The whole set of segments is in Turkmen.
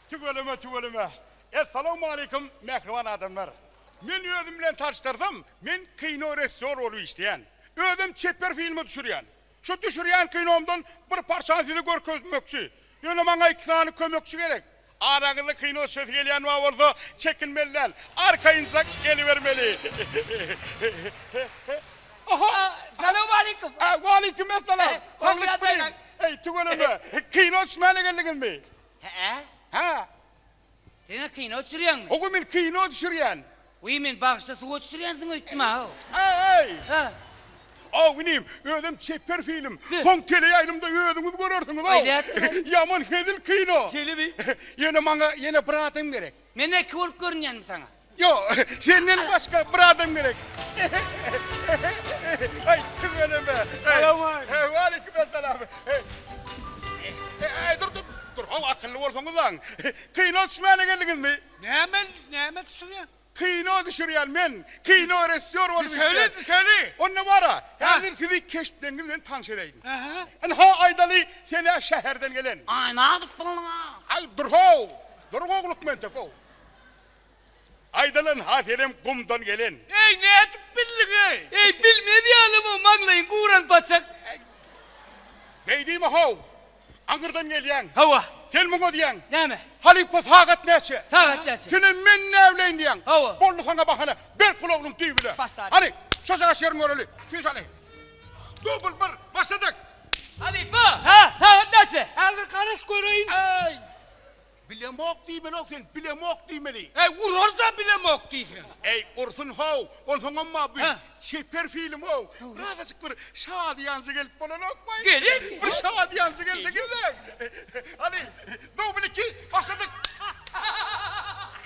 Tüweleme tüweleme. Essalawmaleýkum mähriban adamlar. Men özüm bilen tanyşdyrsam, men kino resisýor bolup işleýän. Özem çeper filme düşürýän. Şu düşürýän kinomdan bir parçany size görkezmekçi. Ýöne maňa iki sany kömekçi gerek. Araňyzda kino çyzysy gelýän wagt bolsa, çekinmeli däl, arkaýynjak gelibermeli. Oho! Salowmaleýkum! Waleýkumessalam! Saglyk bilen! Eý, tüweleme, kino düşmäne geldiňizmi? Hä-ä. Hä. Siz-ä kino düşürýäňmi? Hawa, men kino düşürýän. Wiý, men bagşa suwa düşürýänsiň öýtdüm-aw. Äý! Hä? Aw inim, özem çeper film. Soň teleýaýlymda özüňiz görersiňiz-ow. Aýdäýipdim-ow. Ýaman hezil kino. Jelebi. Ýöne maňa ýene bir adam gerek. Men eki bolup görünýänmi saňa? Ýok, senden başga bir adam gerek. Aý, tüweleme. Salowmaleýkim. Waleýkimessalam. Äý, dur, dur, dur-ow, akylly bolsaňyz-aň. Kino düşmäne geldiňizmi? Näme näme düşürýän? Kino düşürýän men. Kino resýor bolup işleýän. Düşeli düşeli. Onda bara, häzir sizi keşpleňiz bilen tanyş edäýin. Aha. Ynha aýdaly senä şäherden gelen. Aý nazik bolduň-a. Aý dur-how, dur gowluk mentek-ow. Aýdaly ynha senem gumdan gelen. Eý nädip bildiň-eý? Eý bilmez ýaly bu maňlaýyň guran paçak. Beýdimi-how, Aňyrdan gelýäň. Hawa. Sen muňa diýýäň. Näme? Halypa sagat näçe? Sagat näçe? Sen hem men näbileýin diýýäň. Hawa. Boldy saňa bahana. Ber gulagynyň düýbüne. Başladyk. Hany, şojagaz şerin göreli. Tüýs aly. Dubl bir, başladyk! Halypa! Hä? Sagat näçe? Häzir garaş göreýin. Äý! Bilemok diýmelok sen, bilemok diýmeli. Äý, urar-da bilemok diýseň. Äý, ursun-how, onsoň emma bu çeper film-ow. Birazajyk bir şadyýanjy gelip bolanok baý. Gelin! Bir şadyýanjy gelse gezek. Hany, dubl iki, başladyk!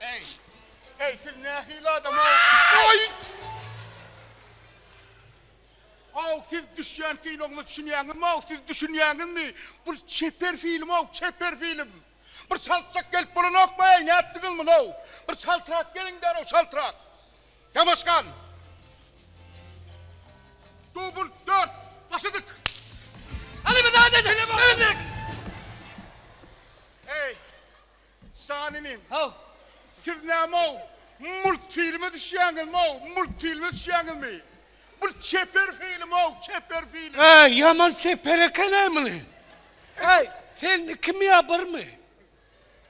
Eý! Eý, siz nähili adam, aw? Aý! Aw, siz düşýän kinoňyza düşünýäňizmi, aw? Siz düşünýäňizmi? Bu çeper film, aw, çeper film. Bir çaltjak gelip bolanokmy, eý, nätdiňiz muny, aw? Bir çaltrak geliň derrew, çaltrak. Ýanaşgan! Dubl dört, başladyk! Alymyzada, Alymyzada! Eý! Janyny haw. Siz näme-ow, multfilme düşýäňizmi-ow, multfilme düşýäňizmi? Bu çeper film-ow, çeper film. Äý, ýaman çeper eken-ä muny. Äý, sen ikimi ýa birmi?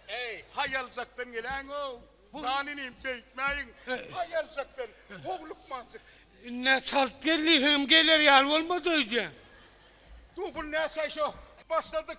Äý, haýaljakdan geläýiň-ow. Janyny beýtmäýiň, haýaljakdan, how lukmanjyk. Ine, çalt gel diýseňem geler ýaly bolmady öýdýän. Dubl näçe şo, başladyk.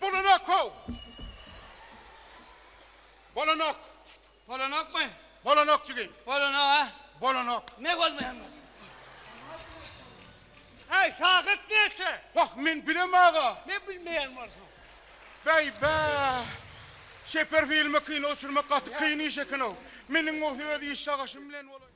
Bolanok-how! Bolanok! Bolanokmy? Bolanok jigim. Bolanok-a? Bolanok. Ne bolmaýan bolsa? Äý, sagat näçe? Wah, men bilem, aga. Ne bilmeýän bolsaň? Bäý-bä! Çeper filme kino düşürmek gaty kyn iş eken-ow. Meniň bolsa öz iş çagaşym bilen bolaý.